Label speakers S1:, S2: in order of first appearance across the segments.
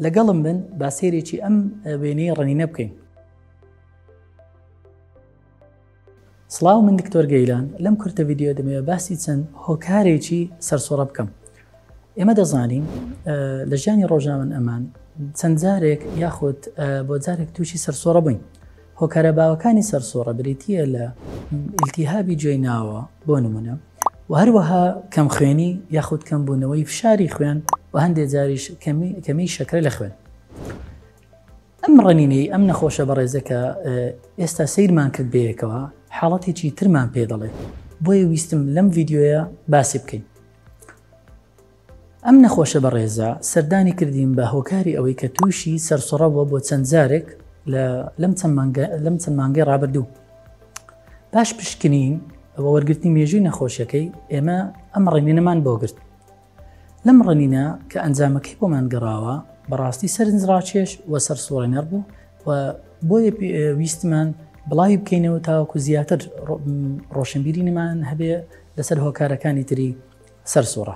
S1: لەگەڵم بن با سێرێکی ئەم وێنەی ڕنینە بکەین سلااو من دکتۆر گەیلان لەم کورتە یددیو دەمەوێت باسی چەند هۆکارێکی سەرسۆڕە بکەم ئێمە دەزانین لە ژیانی ڕۆژناون ئەمان چەند جارێک یاخود بۆ جارێک تووشی سەرسۆڕە بووین هۆکارە باوەکانی سەرسوڕە بریتییە لە ئیلتیهابی جۆی ناوە بۆ نمونە و هەروەها کەم خوێنی یاخود کەم بوونەوەی فشاری خوێن و هەندێ جاریش کەمی شەکرە لە خوێن. ئەم ڕنینەی ئەم نەخۆشە بەڕێزەکە ئێستا سیرمان کرد بەیەکەوە حاڵەتێکی ترمان پێ دەڵێت بۆیە ویستم لەم ڤیددیوە باسی بکەین. ئەم نەخۆشە بەڕێزە سەردانی کردین بە هۆکاری ئەوەی کە تووشی سەرسڕە بووە بۆ چەند جارێک لەم چەند مانگەی ڕابردوو پاش پشکنین ئەوە وەرگرتنی مێژووی نەخۆشیەکەی ئێمە ئەم ڕێنینەمان بۆ گرت لەم ڕنینە کە ئەنجامەکەی بۆمان گەڕاوە بەڕاستی سەرنجڕاکێش و سەر سوڕێنەر بوو و بۆیە ویستمان بڵاوی بکەینەوە تاوەکو زیاتر ڕۆشنبیرینمان هەبێ لەسەر هۆکارەکانی تری سەرسوڕە.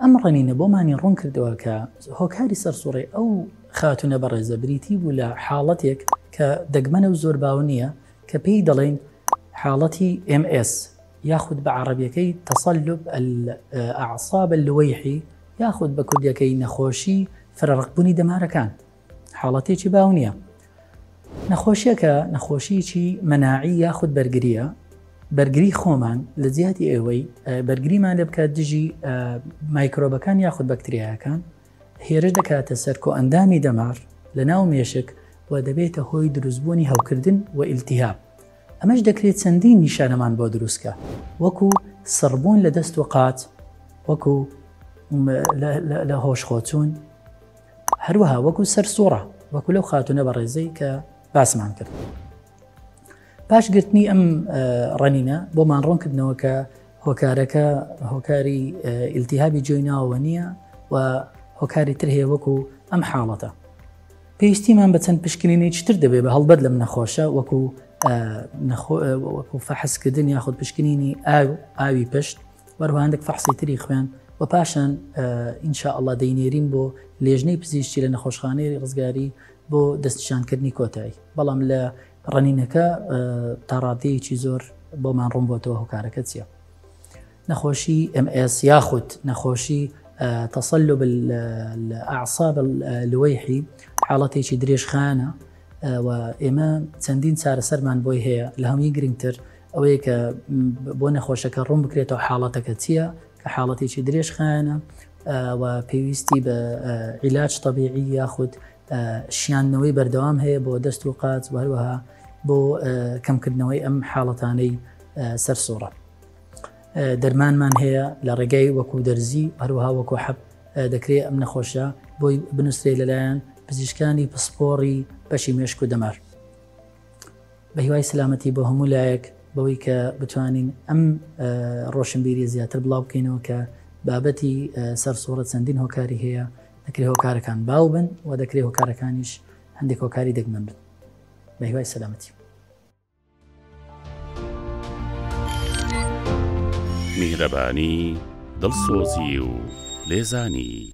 S1: ئەم ڕنینە بۆمانی ڕوون کردەوە کە هۆکاری سەرسوڕی ئەو خاتوونە بەڕێزە بریتی بوو لە حاڵەتێک کە دەگمەنە و زۆر باو نییە کە پێی دەڵێین حاڵەتی MS یاخود بە عەڕەبییەکەی تەسەلوب ئەلئەعساب اللوەیحی یاخود بە کوردییەکەی نەخۆشی فرەڕقبوونی دەمارەکان. حاڵەتێکی باو نییە. نەخۆشیەکە نەخۆشیی مەناعی یاخود بەرگریە بەرگری خۆمان لە جیاتی ئێوەی بەرگریمان لە بکات دژی مایکرۆبەکان یاخود بەکتریاکان هێرش دەکاتە سەر کۆ ئەندامی دەمار لە ناو مێشک و دەبێتە هۆی دروستبوونی هەوکردن و ئیلتیهاب ئەمەش دەکرێت چەندین نیشانەمان بۆ دروستکە وەکو سڕبوون لە دەست و قات وەکو لە هۆش خۆچوون هەروەها وەکو سەر سوڕە وەکو لەو خاتونە بەڕێزەی کە باسمان کرد پاش گرتنی ئەم ڕەنینە بۆمان ڕۆن کردنەوە کە هۆکارەکە هۆکاری ئیلتیهابی جۆی ناوە نییە و هۆکاری تر هەیە وەکو ئەم حاڵەتە پێویستیمان بە چەند پشکنینی چتر دەبێ بە هەڵبەت لەم نەخۆشە وەکو وەکو فەحسکردن یاخود پشکنینی ئاو ئاوی پشت وەروها هەندێک فەحسی تری خوێن و پاشان ان شاء اللە دەینێرین بۆ لێژنەی پزیشکی لە نەخۆشخانەی ڕزگاری بۆ دەستنیشانکردنی کۆتایی بەڵام لە ڕنینەکە تاڕادەیەکی زۆر بۆمان ڕوون بۆتەوە هۆکارەکە چیە نەخۆشی MS یاخود نەخۆشی تەسەلو ئاعصاب لوەیحی حاڵەتێکی درێژخانە و ئێمە چەندین چارەسەرمان بۆی هەیە لە هەمووی گرنگتر ئەوەیە کە بۆ نەخۆشەکە ڕوون بکرێتەوە حاڵەتەکە چییە کە حاڵەتێکی درێژخایەنە و پێویستی بە عیلاج طببیعی یاخود شیانەوەی بەردەوام هەیە بۆ دەست و قاچ وهروەها بۆ کەمکردنەوەی ئەم حاڵەتانەی سەر سۆڕە دەرمانمان هەیە لە ڕێگەی وەکو دەرزی هەروها وەکو حەب دەکرێت ئەم نەخۆشە بۆی بنووسێ لەلایەن پزیشکانی پسپۆڕی بەشی مێشک و دەمار بە هیوای سەلامەتی بۆ هەموو لایەک بەوەی کە بتوانین ئەم ڕۆشنبیری زیاتر بڵاو بکەینەوە کە بابەتی سەر سوڕە چەندین هۆکاری هەیە دەکرێت هۆکارەکان باو بن و دەکرێت هۆکارەکانیش هەندێک هۆکاری دەگمەن بن بە هیوای سەلامەتی
S2: میهرەبانی دڵسۆزی و لێزانی